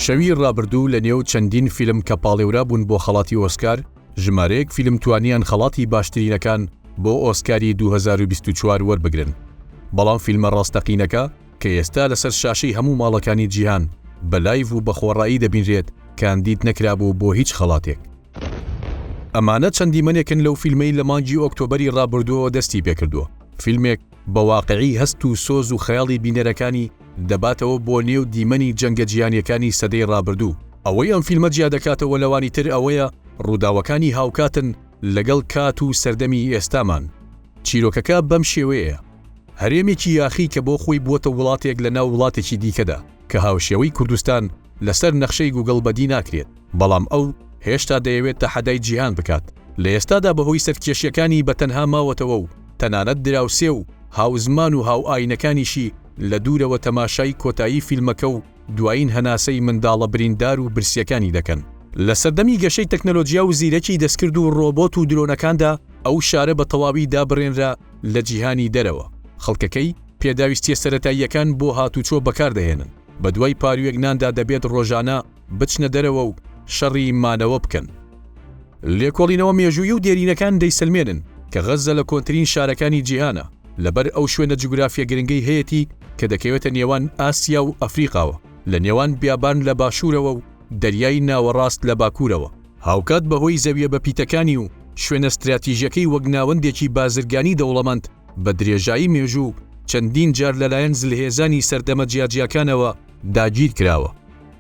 شەوی ڕابردوو لە نێو چەندین فیلم کە پاڵێورا بوون بۆ خەڵاتی ئۆسکار، ژمارەیەک فیلم توانیان خەڵاتی باشترینەکان بۆ ئۆسکاری 2024 وەربگرن، بەڵام فیلمە ڕاستەقینەکە کە ئێستا لەسەر شاشەی هەموو ماڵەکانی جیهان بە لایڤ و بە خۆڕایی دەبینرێت، کاندید نەکرابوو بۆ هیچ خەڵاتێک. ئەمانە چەند دیمەنێکن لەو فیلمەی لە مانگی ئۆکتۆبەری ڕابردووەوە دەستی پێکردووە، فیلمێک بە واقیعی هەست و سۆز و خەیاڵی بینەرەکانی دەباتەوە بۆ نێو دیمەنی جەنگە جیهانییەکانی سەدەی ڕابردوو. ئەوەی ئەم فیلمە جیا دەکاتەوە لەوانی تر ئەوەیە ڕووداوەکانی هاوکاتن لەگەڵ کات و سەردەمی ئێستامان. چیرۆکەکە بەم شێوەیەیە، هەرێمێکی یاخی کە بۆ خۆی بووەتە وڵاتێک لەناو وڵاتێکی دیکەدا کە هاوشێوەی کوردستان، لەسەر نەخشەی گووگڵ بەدی ناکرێت، بەڵام ئەو هێشتا دەیەوێت تەحەدای جیهان بکات، لە ئێستادا بەهۆی سەرکێشییەکانی بە تەنها ماوەتەوە و تەنانەت دراوسێ و هاوزمان و هاوئایینەکانیشی لە دوورەوە تەماشای کۆتایی فیلمەکە و دوایین هەناسەی منداڵە بریندار و برسییەکانی دەکەن. لە سەردەمی گەشەی تەکنەلۆجیا و زیرەکی دەستکرد و ڕۆبۆت و درۆنەکاندا، ئەو شارە بە تەواوی دابڕێنرا لە جیهانی دەرەوە، خەڵکەکەی پێداویستییە سەرەتاییەکان بۆ هاتوچۆ بەکاردەهێنن، بەدوای پاروێک ناندا دەبێت ڕۆژانە بچنە دەرەوە و شەڕی مانەوە بکەن. لێکۆڵینەوە مێژوویی و دێرینەکان دەیسەلمێنن کە غەززە لە کۆنترین شارەکانی جیهانە، لەبەر ئەو شوێنە جوگرافیە گرنگەی هەیەتی کە دەکەوێتە نێوان ئاسیا و ئەفریقاوە، لە نێوان بیابان لە باشوورەوە و دەریای ناوەڕاست لە باکوورەوە. هاوکات بەهۆی زەویە بەپیتەکانی و شوێنە ستراتیژیەکەی وەک ناوەندێکی بازرگانی دەوڵەمەند، بە درێژایی مێژوو چەندین جار لەلایەن زلهێزانی سەردەمە جیاجیاکانەوە داگیر کراوە.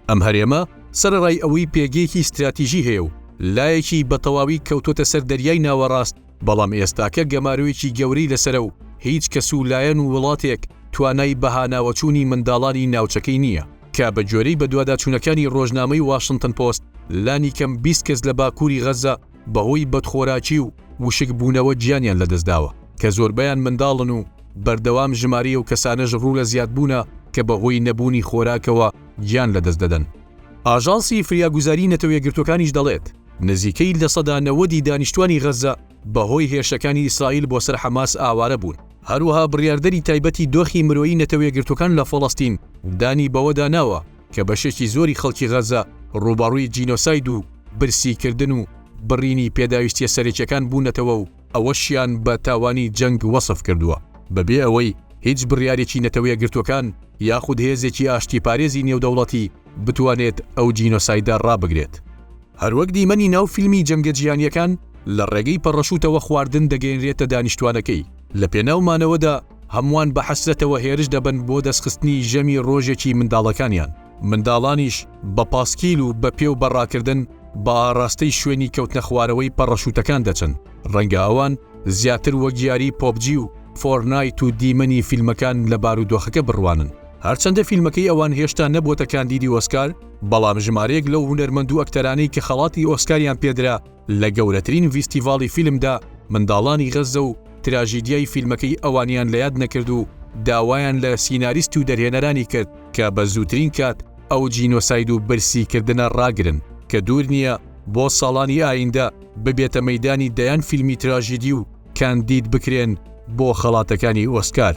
ئەم هەرێمە سەرەڕای ئەوەی پێگەیەکی ستراتیژی هەیە و لایەکی بە تەواوی کەوتۆتە سەر دەریای ناوەڕاست، بەڵام ئێستاکە گەمارۆیەکی گەورەی لەسەرە و هیچ کەس و لایەن و وڵاتێک توانای بەهاناوەچوونی منداڵانی ناوچەکەی نییە، کە بە گوێرەی بەدواداچوونەکانی ڕۆژنامەی واشنتن پۆست لانیکەم بیست کەس لە باکووری غەززە بەهۆی بەدخۆراکی و وشک بوونەوە گیانیان لەدەستداوە، کە زۆربەیان منداڵن و بەردەوام ژمارەی ئەو کەسانەش ڕوو لە زیادبوونە کە بەهۆی نەبوونی خۆراکەوە گیان لەدەست دەدەن. ئاژانسی فریاگوزاری نەتەوە یەکگرتووەکانیش دەڵێت، نزیکەی لە سەدا نەوەدی دانیشتووانی غەززە بەهۆی هێرشەکانی ئیسرائیل بۆ سەر حەماس ئاوارە بوون. هەروەها بڕیاردەری تایبەتی دۆخی مرۆیی نەتەوە یەکگرتووەکان لە فەڵەستین دانی بەوەدا ناوە، کە بەشێکی زۆری خەڵکی غەزە ڕووبەڕووی جینۆساید و برسیکردن و بڕینی پێداویستییە سەرەکییەکان بوونەتەوە و ئەوەشیان بە تاوانی جەنگ وەسف کردووە، بەبێ ئەوەی هیچ بڕیارێکی نەتەوەیەکگرتووەکان یاخود هێزێکی ئاشتیپارێزی نێودەوڵەتی بتوانێت ئەو جینۆسایدە ڕابگرێت. هەروەک دیمەنی ناو فیلمی جەنگە جیهانییەکان لە ڕێگەی پەڕەشووتەوە خواردن دەگەیەنرێتە دانیشتووانەکەی، لەپێناو مانەوەدا، هەمووان بە حەسرەتەوە هێرش دەبن بۆ دەستخستنی ژەمی ڕۆژێکی منداڵەکانیان، منداڵانیش بە پاسکیل و بە پێ و بە ڕاکردن بە ئاڕاستەی شوێنی کەوتنەخوارەوەی پەڕەشووتەکان دەچن، ڕەنگە ئەوان زیاتر وەک یاری پۆبجی و فۆرنایت و دیمەنی فیلمەکان لە بارودۆخەکە بڕوانن. هەرچەندە فیلمەکەی ئەوان هێشتا نەبووەتە کاندیدی ئۆسکار، بەڵام ژمارەیەک لەو هونەرمەند و ئەکتەرانەی کە خەڵاتی ئۆسکاریان پێدرا، لە گەورەترین ڤیستیڤاڵی فیلمدا منداڵانی غەززە و تراژیدیای فیلمەکەی ئەوانیان لە یاد نەکرد و داوایان لە سیناریست و دەرهێنەرانی کرد کە بە زووترین کات ئەو جینۆساید و برسیکردنە ڕاگرن کە دوور نییە بۆ ساڵانی ئایندە ببێتە مەیدانی دەیان فیلمی تراژیدی و کاندید بکرێن بۆ خەڵاتەکانی ئۆسکار.